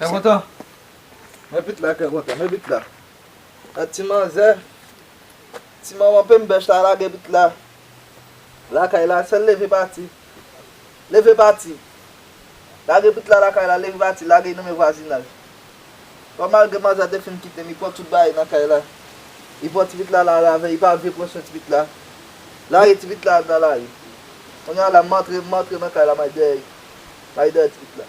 Kè kontan Mwen pit la kè kontan Mwen pit la A ti manzè Ti manman pem bèch la lage pit la Lakay la sèl leve pati Leve pati Lage pit la lakay la leve pati Lage nan men vwazinaj Bon malgre manzè te fin kitem li pran tout bagay nan kay la Li pran ti pit la la ravè li pa vle pran swen ti pit la Lage ti pit la al nan lari Kounya la m antre m antre nan kay la may dèyè May dèyè ti pit la.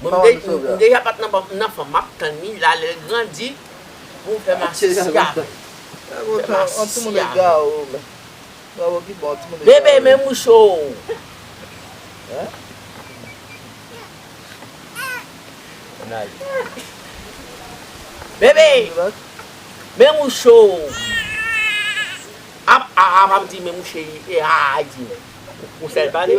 Bon m deja pat nan banm m nan fanm map tann li la lèl grandi poum fè masisi avèl. Bebe men mouche ou. Apa pa m di men mouche li e aa di men. Ou fèl pale.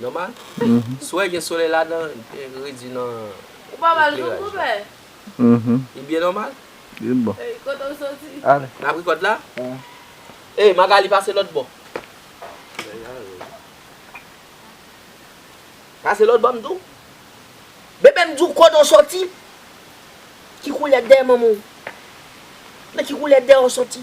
Nòmal. Si w wè gen solèy ladan, redui nan ekleraj la. Li byen nòmal? Li bon. N ap rekòt la? Ey, Magali pase lòtbò. Pase lòtbò m di w. Bebe m di w kote w soti? Ki koulè dèyè manman w? Nan ki koulè dèyè w soti?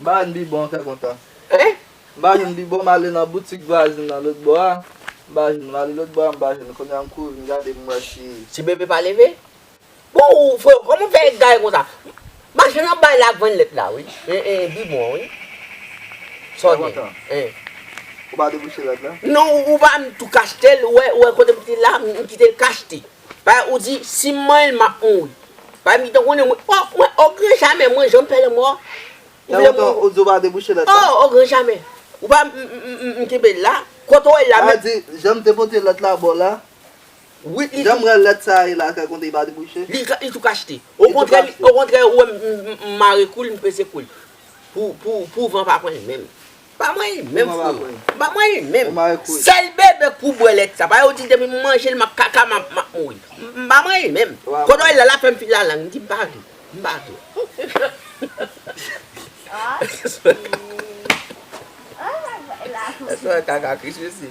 Ba youn bibon kè kontan. Mpa jwenn bibon male nan boutik vwazin nan lòt bò a mpa jwenn male lòt bò a mpa jwenn kounye a mkouri vin gade mwè si. Ti bebe pa leve? Bon ou freo koman ou fè egare konsa? Machann nan bay la ak vann lèt la wi e bibon an wi. Sa w gen? Kèkontan. Hein. Ou pa debouche lòt lan? Non ou pa m tou kachetel ou wè kote m te la m kitel kachte. Ba ou di sim manyenl map mouri. Ba mi te konnen mwen oh mwen oh gran jamè mwen janm pè lanmò a. Ou vle mwen Ou di ou pa debouche lòt la. Oh oh gran jamè ou pa m kenbel la kote w wèl la menm. Ba di janm te pote lòt la baw la wi li Janm wè lòt sa a ye la kèk kote li pa debouche. Li li tou kachte. Okontrè okontrè ou wèm m mare koul m pese koul pou pou van pa pranl menm. Ba mwen li menm freo. Ba mwen li menm. Sel bebe pou bwe let sa. Pa yo di depi m manje l map kaka map mouri. Ba mwen li menm. Kodo el la la fem fil la lang. M di m pa vle. M pa vle. Eswe kaka kris mesye.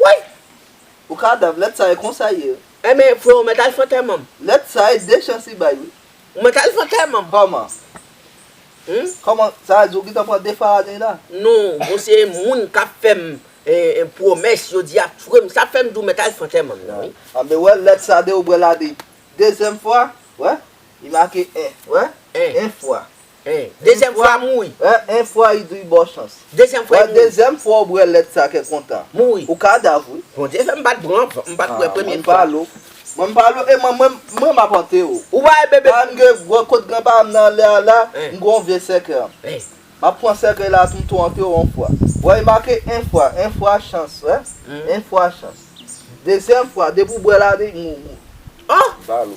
Woy! Ou kadav lèt sa e konsa ye. Enben vre ou mèt al fè antèmanm. Lèt sa e de chans li bay wi. Ou mèt al fè antèmanm. Kòman? Humm. Kòman sa vle di ou gintan pran 2 Farane la? Non, bon se moun kap fèm pwomès jodi a frèm sa fèm di ou mèt al fè antèmanm nan wi. Anben wè lèt sa de ou bwè la de dezyèm fwa wè li make 1 wè 1 fwa. Dezyèm fwa mouri. Enf fwa i dri baw chans. Dezyèm fwa i mouri. Dezyèm fwa ou bwè lèt sa kè kontan. Mouri. Ou kadav wi. Bondye fèm pat pran vant m pat kwè premye fwa. Mwen palo. Mwen palo e mwen mwen map ante ou. Ou pa wè bebe. Paran m gen gwo kot gran paran m nan anlè a la m gen yon vye sèkèy an map pran sèkèy la tou m tou ante ou yon fwa wè i make en fwa en fwa chans wè en fwa chans dezyèm fwa depi ou bwè la li mou mou. Mwen palo.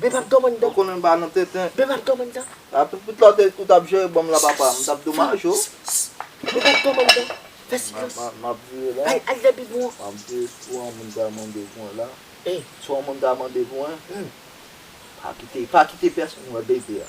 Beb ap doman dan. Ou konnen m pa nan tenten. Beb ap doman dan. A tout bout la te ou tap jere bonm la papa m tap domaj ou. Beb ap doman dan. Fè silans. Map vire la. Al al depi bon. Map vire si yon moun ta mande pou mwen la. Ey. Si yon moun ta mande pou mwen. Humm. Pa kite pa kite pèsonn wè baby a.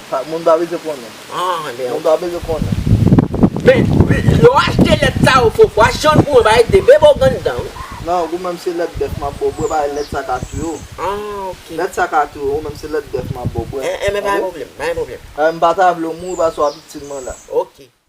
Moun pa bezwen konnen. Moun pa bezwen konnen. Men, lè w achte lèt sa yo fo fwa, jan pou mwen ba ede bebe w grann dan wi. Non, ou menm se lèt bèf m ap ba w bwè, pa lèt sa ka touye w. Ah ok. Lèt sa ka touye w, ou menm se lèt bèf m ap ba w bwè. Enben pa gen pwoblèm, pa gen pwoblèm. M pa ta vle w mouri paske w ap itil mwen la. Ok.